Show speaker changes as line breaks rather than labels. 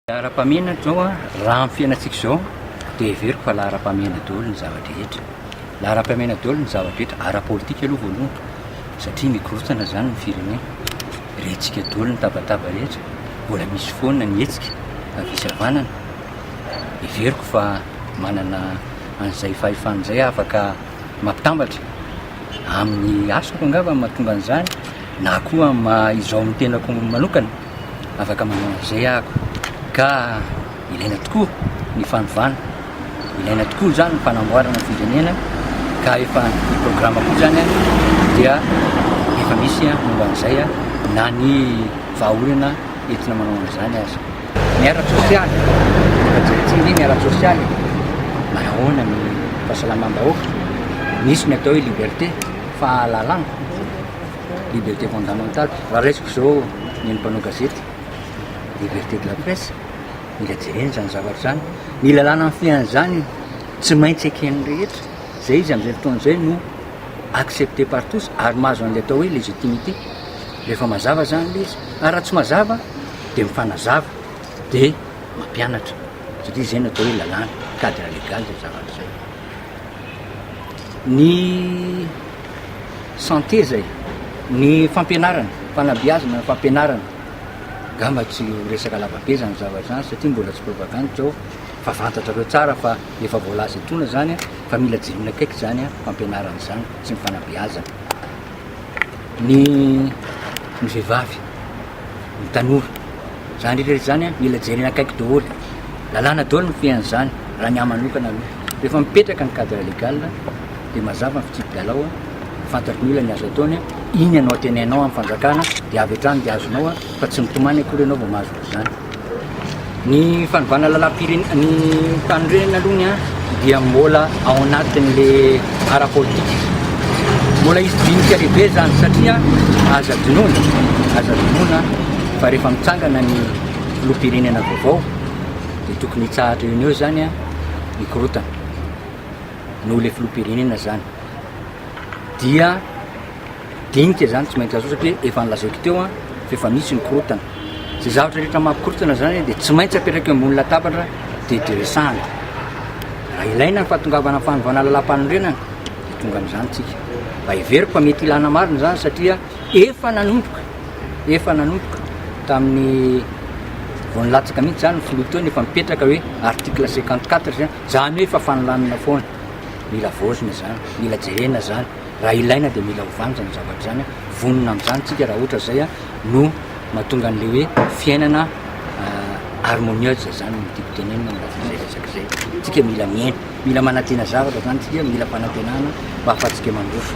Laharam-pahamehana izao an, raha amin'ny fiainantsika izao dia heveriko fa laharam-pahamehana daholo ny zava-drehetra. Laharam-pahamehana daholo ny zava-drehetra, ara-politika aloha voalohany satria mikorontana izany ny firenena. Rentsika daholo ny tabataba rehetra, mbola misy foana ny hetsika avy izy havanana. Heveriko fa manana an'izay fahefana izay aho afaka mampitambatra amin'ny asako angamba no mahatonga an'izany na koa amin'ny maha-izaho amin'ny tenako manokana. afaka manao an'izay ako ka ilaina tokoa ny fanovana ilaina tokoa zany ny fanamboarana firenena ka efa ny programa koa zany a dia efa misy a momba an'izay a na ny vahaolana entina manao an'izany aza ny ara sosialy efa jeretsiny ny ara sosialy manahoana ny fahasalamam-bahoaka nisy ny atao hoe liberté fahalalana Liberté fondamentale, raha raisiko izao ny an'ny mpanao gazety, liberté de la presse, mila jerena izany zavatra izany, ny lalàna mifehy an'izany tsy maintsy eken'ny rehetra, izay izy amin'izay fotoana izay no accepté par tous ary mahazo an'ilay atao hoe légitimité, rehefa mazava izany ilay izy, ary raha tsy mazava dia mifanazava dia mampianatra, satria izay no atao hoe lalàna, cadre légal izay zavatra izay. Ny. Santé izay. Ny fampianarana, fanabeazana, fampianarana. Angamba tsy ho resaka lavabe izany zavatra izany satria mbola tsy propagande izao fa fantatrareo tsara fa efa voalaza etoana izany fa mila jerena akaiky izany fampianarana izany sy ny fanabeazana ny ny vehivavy. ny tanora. Zany rehetra rehetra zany mila jerena akaiky daholo. Lalàna daholo ny fiain'izany raha ny ahy manokana aloha. Rehefa mipetraka ny cadre légal dia mazava ny fitsipi-dalao, fantatry ny olona ny azo ataony, iny ianao teneninao amin'ny fanjakana dia avy hatrany dia azonao fa tsy mitomany akory ianao vao mahazo an'izany. Ny fanovana lalam-pirenena, ny fanorenana aloha ny dia mbola ao anatin'le ara-politika. Mbola hisy dinika lehibe zany satria aza adinoina, aza adinoina fa rehefa mitsangana ny filoham-pirenena vaovao dia tokony hitsahatra eo eo zany a ny korotana noho le filoham-pirenena zany dia Dinika izany tsy maintsy azo satria efa nolazaiko teo an, fa efa misy ny korotana. Izay zavatra rehetra mampikorotana izany dia tsy maintsy apetraka eo ambony latabatra dia diresahana. Raha ilaina ny fahatongavana amin'ny fanovana lalàmpanorenana dia tonga amin'izany isika. Mba heveriko fa mety ilana marina izany satria efa nanomboka, efa nanomboka tamin'ny vao nilatsaka mihitsy izany ny filoha teo no efa mipetraka hoe article cinquante quatre izany hoe efa fanolanana foana. Mila havaozina izany, mila jerena izany. raha ilaina dia mila ovana izany zavatra izany a, vonona amin'izany tsika raha ohatra izay a no mahatonga an'le hoe fiainana harmonieuse izany no tiako tenenina amin'le zay resaka zay, tsika mila miaina, mila manantena zavatra izany tsika, mila fanantenana mba ahafahantsika mandroso.